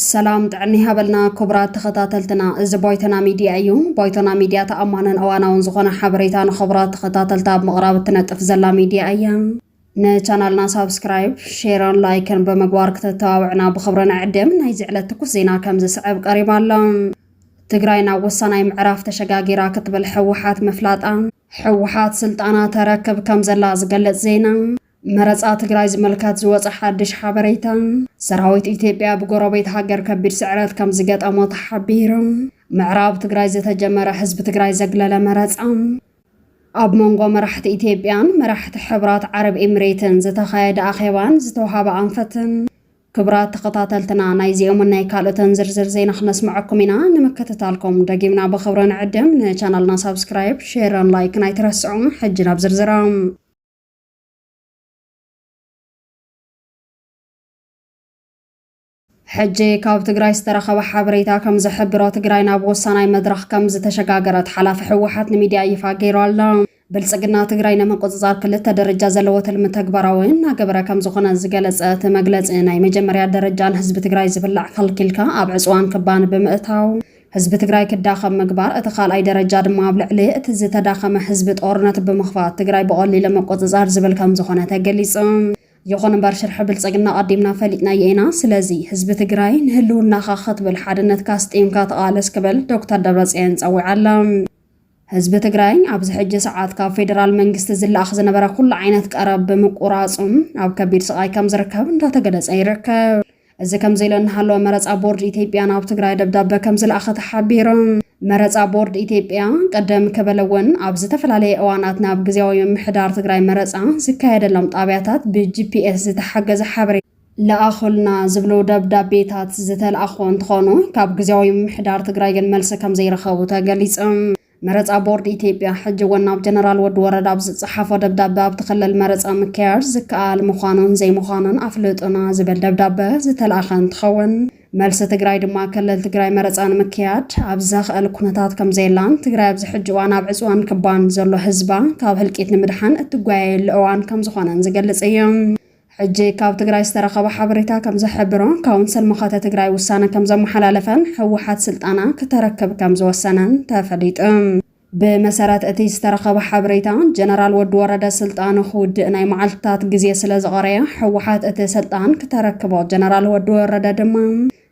ሰላም ጥዕና ይሃበልና ክቡራት ተኸታተልትና፣ እዚ ቦይቶና ሚድያ እዩ። ቦይቶና ሚድያ ተኣማንን እዋናውን ዝኾነ ሓበሬታ ንኽቡራት ተኸታተልታ ኣብ ምቕራብ እትነጥፍ ዘላ ሚድያ እያ። ንቻናልና ሳብስክራይብ፣ ሼርን ላይክን ብምግባር ክተተባብዕና ብኽብሪ ንዕድም። ናይዚ ዕለት ትኩስ ዜና ከም ዝስዕብ ቀሪባ ኣሎ። ትግራይ ናብ ወሳናይ ምዕራፍ ተሸጋጊራ ክትብል ሕወሓት ምፍላጣ። ሕወሓት ስልጣና ተረክብ ከም ዘላ ዝገልጽ ዜና። መረፃ ትግራይ ዝምልከት ዝወፀ ሓድሽ ሓበሬታ። ሰራዊት ኢትዮጵያ ብጎረቤት ሃገር ከቢድ ስዕረት ከም ዝገጠሞ ተሓቢሩ። ምዕራብ ትግራይ ዝተጀመረ ህዝቢ ትግራይ ዘግለለ መረፃ። ኣብ መንጎ መራሕቲ ኢትዮጵያን መራሕቲ ሕብራት ዓረብ ኤምሬትን ዝተኻየደ ኣኼባን ዝተውሃበ ኣንፈትን ክብራት ተኸታተልትና ናይዚኦምን ናይ ካልኦትን ዝርዝር ዜና ክነስምዐኩም ኢና ንምክትታልኩም ደጊምና ብኽብሪ ንዕድም ንቻናልና ሳብስክራይብ ሼርን ላይክን ኣይትረስዑም ሕጂ ናብ ዝርዝሮም ሕጂ ካብ ትግራይ ዝተረኸበ ሓበሬታ ከም ዝሕብሮ ትግራይ ናብ ወሳናይ መድረኽ ከም ዝተሸጋገረት ሓላፊ ህወሓት ንሚድያ ይፋ ገይሩ ኣሎ። ብልፅግና ትግራይ ንምቁፅፃር ክልተ ደረጃ ዘለዎ ትልሚ ተግባራዊ እናገበረ ከም ዝኾነ ዝገለፀ እቲ መግለፂ ናይ መጀመርያ ደረጃ ንህዝቢ ትግራይ ዝብላዕ ከልኪልካ ኣብ ዕፅዋን ክባን ብምእታው ህዝቢ ትግራይ ክዳኸም ምግባር፣ እቲ ካልኣይ ደረጃ ድማ ኣብ ልዕሊ እቲ ዝተዳኸመ ህዝቢ ጦርነት ብምኽፋት ትግራይ ብቐሊሉ ምቁፅፃር ዝብል ከም ዝኾነ ተገሊፁ። ይኹን እምበር ሽርሒ ብልፅግና ኣቐዲምና ፈሊጥናዮ ኢና፣ ስለዚ ህዝቢ ትግራይ ንህልውናኻ ክትብል ሓድነትካ ኣስጢምካ ተቓለስ ክብል ዶክተር ደብረፅዮን ፀዊዑ ኣሎ። ህዝቢ ትግራይ ኣብዚ ሕጂ ሰዓት ካብ ፌደራል መንግስቲ ዝለኣኽ ዝነበረ ኩሉ ዓይነት ቀረብ ብምቁራፁ ኣብ ከቢድ ስቓይ ከምዝርከብ እንዳተገለፀ ይርከብ። እዚ ከምዚሉ እናሃለወ መረፃ ቦርድ ኢትዮጵያ ናብ ትግራይ ደብዳበ ከምዝለኣኸ ተሓቢሩ። መረፃ ቦርድ ኢትዮጵያ ቅድም ክብል እውን ኣብ ዝተፈላለየ እዋናት ናብ ግዝያዊ ምምሕዳር ትግራይ መረፃ ዝካየደሎም ጣብያታት ብጂፒኤስ ዝተሓገዘ ሓበሬታ ለኣኹልና ዝብሉ ደብዳቤታት ዝተልኣኹ እንትኾኑ ካብ ግዝያዊ ምምሕዳር ትግራይ ግን መልሲ ከምዘይረኸቡ ተገሊፁ። መረፃ ቦርድ ኢትዮጵያ ሕጂ እውን ናብ ጀነራል ወዲ ወረዳ ኣብ ዝፀሓፎ ደብዳበ ኣብቲ ክልል መረፃ ምክያድ ዝከኣል ምዃኑን ዘይምዃኑን ኣፍልጡና ዝብል ደብዳበ ዝተልኣኸ እንትኸውን መልሲ ትግራይ ድማ ክልል ትግራይ መረፃ ንምክያድ ኣብ ዘኽእል ኩነታት ከምዘየላን ትግራይ ኣብዚ ሕጂ እዋን ኣብ ዕፅዋን ክባን ዘሎ ህዝባ ካብ ህልቂት ንምድሓን እትጓየየሉ እዋን ከምዝኾነን ዝገልፅ እዩ። ሕጂ ካብ ትግራይ ዝተረኸበ ሓበሬታ ከምዝሕብሮ ካውንስል መኸተ ትግራይ ውሳነ ከምዘመሓላለፈን ህወሓት ስልጣና ክተረክብ ከምዝወሰነን ተፈሊጡ። ብመሰረት እቲ ዝተረኸበ ሓበሬታ ጀነራል ወዲ ወረደ ስልጣኑ ክውድእ ናይ መዓልትታት ግዜ ስለዝቐረዮ ህወሓት እቲ ስልጣን ክተረክቦ ጀነራል ወዲ ወረደ ድማ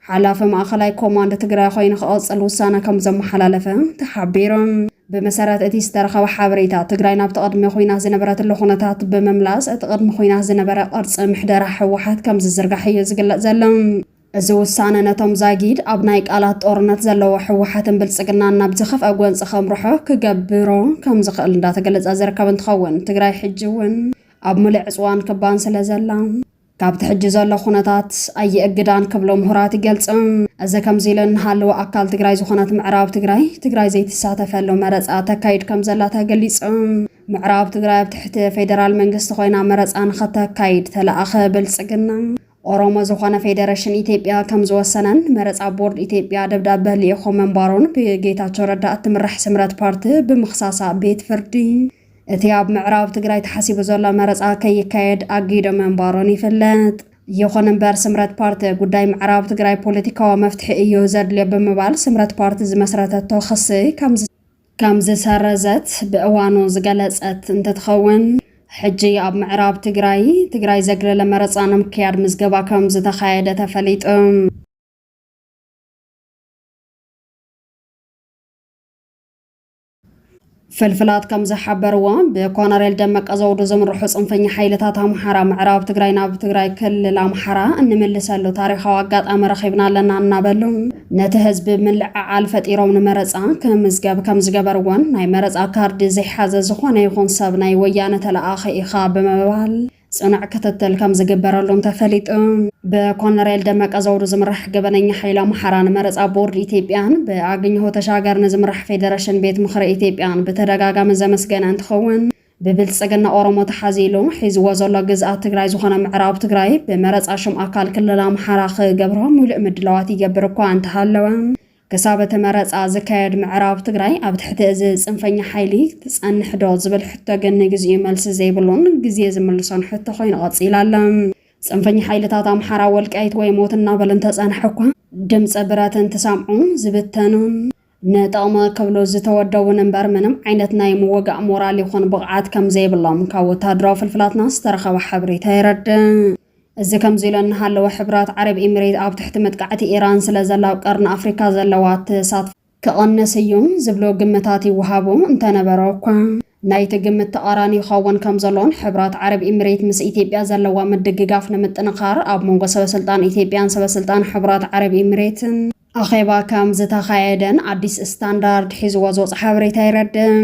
ሓላፊ ማእኸላይ ኮማንድ ትግራይ ኮይኑ ክቕፅል ውሳነ ከም ዘመሓላለፈ ተሓቢሩ። ብመሰረት እቲ ዝተረኸበ ሓበሬታ ትግራይ ናብቲ ቅድሚ ኩናት ዝነበረትሉ ኩነታት ብምምላስ እቲ ቅድሚ ኩናት ዝነበረ ቅርፂ ምሕደራ ህወሓት ከም ዝዝርጋሕ እዩ ዝግለፅ ዘሎ። እዚ ውሳነ ነቶም ዛጊድ ኣብ ናይ ቃላት ጦርነት ዘለዎ ህወሓትን ብልፅግናን ናብ ዝኸፍአ ጎንፂ ከምርሖ ክገብሮ ከም ዝኽእል እንዳተገለፀ ዝርከብ እንትኸውን ትግራይ ሕጂ እውን ኣብ ምሉእ ዕፅዋን ክባን ስለ ዘላ ካብቲ ሕጂ ዘሎ ኩነታት ኣይእግዳን ክብሉ ምሁራት ይገልጹ። እዚ ከምዚ ኢሉ እንሃለወ ኣካል ትግራይ ዝኾነት ምዕራብ ትግራይ፣ ትግራይ ዘይትሳተፈሉ መረፃ ተካይድ ከምዘላ ተገሊጹ። ምዕራብ ትግራይ ኣብ ትሕቲ ፌደራል መንግስቲ ኮይና መረፃ ንኸተካይድ ተለኣኸ ብልፅግና ኦሮሞ ዝኾነ ፌደሬሽን ኢትዮጵያ ከም ዝወሰነን መረፃ ቦርድ ኢትዮጵያ ደብዳበ ልኢኾ ምንባሩን ብጌታቸው ረዳ እትምራሕ ስምረት ፓርቲ ብምኽሳሳ ቤት ፍርዲ እቲ ኣብ ምዕራብ ትግራይ ተሓሲቡ ዘሎ መረፃ ከይካየድ ኣጊዶ ምንባሮን ይፍለጥ። ይኹን እምበር ስምረት ፓርቲ ጉዳይ ምዕራብ ትግራይ ፖለቲካዊ መፍትሒ እዩ ዘድልዮ ብምባል ስምረት ፓርቲ ዝመስረተቶ ክሲ ከም ዝሰረዘት ብእዋኑ ዝገለፀት እንትትኸውን ሕጂ ኣብ ምዕራብ ትግራይ ትግራይ ዘግለለ መረፃ ንምክያድ ምዝገባ ከም ዝተኻየደ ተፈሊጡ። ፍልፍላት ከም ዝሓበርዎ ብኮነሬል ደመቀ ዘውዱ ዝምርሑ ፅንፈኛ ሓይልታት ኣምሓራ ምዕራብ ትግራይ ናብ ትግራይ ክልል ኣምሓራ እንምልሰሉ ታሪኻዊ ኣጋጣሚ ረኺብና ኣለና እናበሉ ነቲ ህዝቢ ምልዕዓል ፈጢሮም ንመረፃ ክምዝገብ ከም ዝገበርዎን ናይ መረፃ ካርዲ ዘይሓዘ ዝኾነ ይኹን ሰብ ናይ ወያነ ተለኣኺ ኢኻ ብምባል ፅኑዕ ክትትል ከም ዝግበረሉን ተፈሊጡ። ብኮነሬል ደመቀ ዘውዱ ዝምራሕ ገበነኛ ሓይሊ ኣምሓራ ንመረፃ ቦርድ ኢትዮጵያን ብኣገኘሁ ተሻገር ንዝምራሕ ፌዴሬሽን ቤት ምኽሪ ኢትዮጵያን ብተደጋጋሚ ዘመስገነ እንትኸውን ብብልፅግና ኦሮሞ ተሓዚሉ ሒዝዎ ዘሎ ግዝኣት ትግራይ ዝኾነ ምዕራብ ትግራይ ብመረፃ ሽም ኣካል ክልል ኣምሓራ ክገብሮ ሙሉእ ምድላዋት ይገብር እኳ እንተሃለወ ክሳብ እቲ መረፃ ዝካየድ ምዕራብ ትግራይ ኣብ ትሕቲ እዚ ፅንፈኛ ሓይሊ ትፀንሕ ዶ ዝብል ሕቶ ግን ንግዚኡ መልሲ ዘይብሉን ግዜ ዝምልሶን ሕቶ ኮይኑ ቀፂሉ ኣሎ። ፅንፈኛ ሓይልታት ኣምሓራ ወልቃይት ወይ ሞት እናበሉ እንተፀንሑ እኳ ድምፂ ብረት እንትሰምዑ ዝብተኑን ንጥቕሚ ክብሉ ዝተወደቡን እምበር ምንም ዓይነት ናይ ምውጋእ ሞራል ይኹን ብቕዓት ከምዘይብሎም ካብ ወታደራዊ ፍልፍላትና ዝተረኸበ ሓበሬታ የረድእ። እዚ ከምዚሉ እናሃለወ ሕቡራት ዓረብ ኢሚሬት ኣብ ትሕቲ መጥቃዕቲ ኢራን ስለዘላ ኣብ ቀርኒ ኣፍሪካ ዘለዋ ተሳትፎ ክቕንስ እዩ ዝብሉ ግምታት ይወሃቡ እንተነበረ'ኳ ናይቲ ግምት ተቓራኒ ይኸውን ከምዘሎን ሕቡራት ዓረብ ኢሚሬት ምስ ኢትዮጵያ ዘለዋ ምድግጋፍ ንምጥንኻር ኣብ መንጎ ሰበስልጣን ኢትዮጵያን ሰበስልጣን ሕቡራት ዓረብ ኢሚሬትን ኣኼባ ከምዝተኻየደን ኣዲስ ስታንዳርድ ሒዝዎ ዝወፀ ሓበሬታ የረድእ።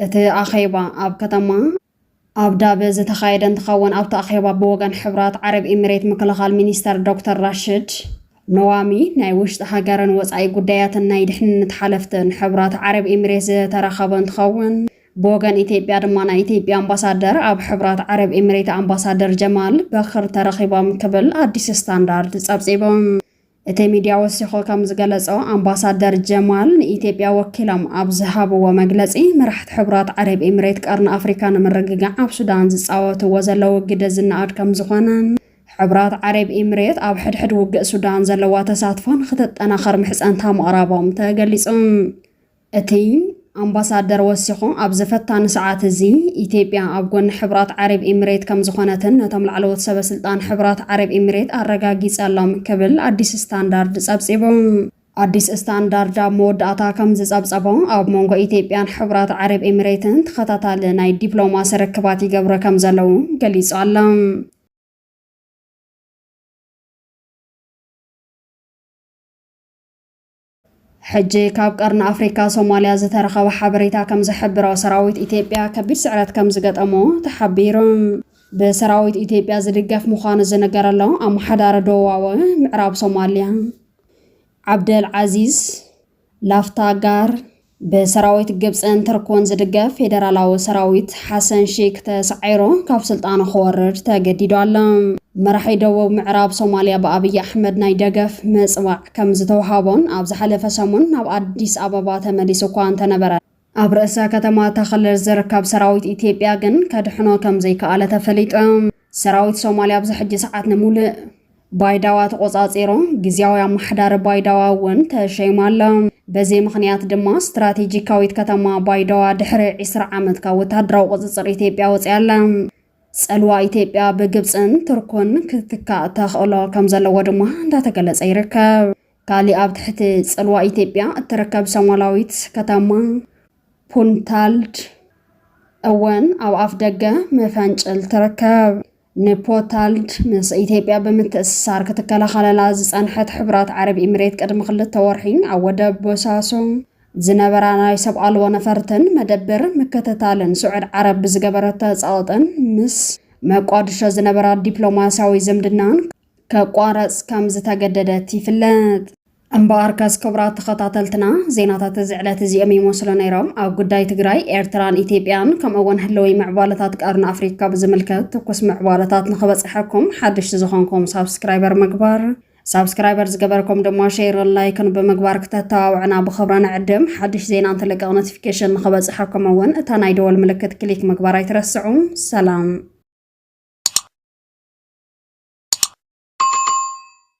እቲ ኣኼባ ኣብ ከተማ። ኣብዳቢ ዝተኻየደ እንትኸውን ኣብቲ ኣኼባ ብወገን ሕብራት ዓረብ ኢሚሬት ምክልኻል ሚኒስተር ዶክተር ራሽድ ነዋሚ፣ ናይ ውሽጢ ሃገርን ወፃኢ ጉዳያትን ናይ ድሕንነት ሓለፍትን ሕብራት ዓረብ ኢሚሬት ዝተረኸበ እንትኸውን ብወገን ኢትዮጵያ ድማ ናይ ኢትዮጵያ ኣምባሳደር ኣብ ሕብራት ዓረብ ኢሚሬት ኣምባሳደር ጀማል በክር ተረኺቦም ክብል ኣዲስ ስታንዳርድ ፀብፂቡ። እቲ ሚድያ ወሲኹ ከም ዝገለፆ ኣምባሳደር ጀማል ንኢትዮጵያ ወኪሎም ኣብ ዝሃብዎ መግለፂ መራሕቲ ሕቡራት ዓረብ ኤምሬት ቀርኒ ኣፍሪካ ንምርግጋዕ ኣብ ሱዳን ዝፃወትዎ ዘለዉ ግደ ዝነኣድ ከም ዝኾነን ሕቡራት ዓረብ ኤምሬት ኣብ ሕድሕድ ውግእ ሱዳን ዘለዋ ተሳትፎ ንክተጠናኸር ምሕፀንታ ምቕራቦም ተገሊፁ። እቲ ኣምባሳደር ወሲኹ ኣብዚ ፈታኒ ሰዓት እዚ ኢትዮጵያ ኣብ ጎኒ ሕቡራት ዓረብ ኢሚሬት ከምዝኾነትን ነቶም ላዕለዎት ሰበ ስልጣን ሕቡራት ዓረብ ኢሚሬት ኣረጋጊፀሎም ክብል ኣዲስ ስታንዳርድ ፀብፂቡ። ኣዲስ ስታንዳርድ ኣብ መወዳእታ ከምዝፀብፀቦ ኣብ መንጎ ኢትዮጵያን ሕቡራት ዓረብ ኢሚሬትን ተኸታታሊ ናይ ዲፕሎማሲ ርክባት ይገብሩ ከምዘለዉ ገሊፁ ኣሎ። ሕጂ ካብ ቀርኒ ኣፍሪካ ሶማልያ ዝተረኸበ ሓበሬታ ከም ዝሕብሮ ሰራዊት ኢትዮጵያ ከቢድ ስዕረት ከም ዝገጠሞ ተሓቢሩ። ብሰራዊት ኢትዮጵያ ዝድገፍ ምዃኑ ዝንገረሎ ኣመሓዳሪ ደቡባዊ ምዕራብ ሶማልያ ዓብደል ዓዚዝ ላፍታጋር፣ ብሰራዊት ግብጽን ትርኩን ዝድገፍ ፌደራላዊ ሰራዊት፣ ሓሰን ሺክ ተሳዒሩ ካብ ስልጣኑ ክወርድ ተገዲዱ ኣሎ። መራሒ ደቡብ ምዕራብ ሶማልያ ብኣብይ ኣሕመድ ናይ ደገፍ ምጽዋዕ ከም ዝተውሃቦን ኣብ ዝሓለፈ ሰሙን ናብ ኣዲስ ኣበባ ተመሊሱ እኳ እንተነበረ፣ ኣብ ርእሰ ከተማ እታ ክልል ዝርከብ ሰራዊት ኢትዮጵያ ግን ከድሕኖ ከም ዘይከኣለ ተፈሊጡ። ሰራዊት ሶማልያ ኣብዚ ሕጂ ሰዓት ንምሉእ። ባይዳዋ ተቖጻጺሮም ግዝያዊ ኣማሓዳሪ ባይዳዋ እውን ተሸይማ ኣሎ። በዚ ምኽንያት ድማ ስትራቴጂካዊት ከተማ ባይዳዋ ድሕሪ ዒስራ ዓመት ካብ ወተሃደራዊ ቁጽጽር ኢትዮጵያ ወጺኣ ኣላ። ጸልዋ ኢትዮጵያ ብግብጽን ቱርኩን ክትካእ ተኽእሎ ከም ዘለዎ ድማ እንዳተገለጸ ይርከብ። ካሊእ ኣብ ትሕቲ ጽልዋ ኢትዮጵያ እትርከብ ሶማላዊት ከተማ ፑንታልድ እውን ኣብ ኣፍ ደገ መፈንጭል ትርከብ። ንፖታልድ ምስ ኢትዮጵያ ብምትእስሳር ክትከላኸለላ ዝጸንሐት ሕቡራት ዓረብ ኢምሬት ቅድሚ ክልተ ወርሒ ኣብ ወደብ ቦሳሶ ዝነበራ ናይ ሰብ ኣልቦ ነፈርትን መደብር ምክትታልን ስዑድ ዓረብ ብዝገበረቶ ጸቕጥን ምስ መቋድሾ ዝነበራ ዲፕሎማስያዊ ዝምድናን ከቋረጽ ከም ዝተገደደት ይፍለጥ። እምበኣርከስ ክቡራት ተኸታተልትና ዜናታት እዚ ዕለት እዚኦም ይመስሉ ነይሮም። ኣብ ጉዳይ ትግራይ፣ ኤርትራን ኢትዮጵያን ከምኡ እውን ህልዊ ምዕባለታት ቀርኒ ኣፍሪካ ብዝምልከት ትኩስ ምዕባለታት ንኽበፅሐኩም ሓደሽቲ ዝኾንኩም ሳብስክራይበር ምግባር ሳብስክራይበር ዝገበርኩም ድማ ሼርን ላይክን ብምግባር ክተተባብዑና ብኽብሪ ንዕድም። ሓድሽ ዜና እንትልቀቕ ኖቲፊኬሽን ንኽበፅሐኩም እውን እታ ናይ ደወል ምልክት ክሊክ ምግባር ኣይትረስዑ። ሰላም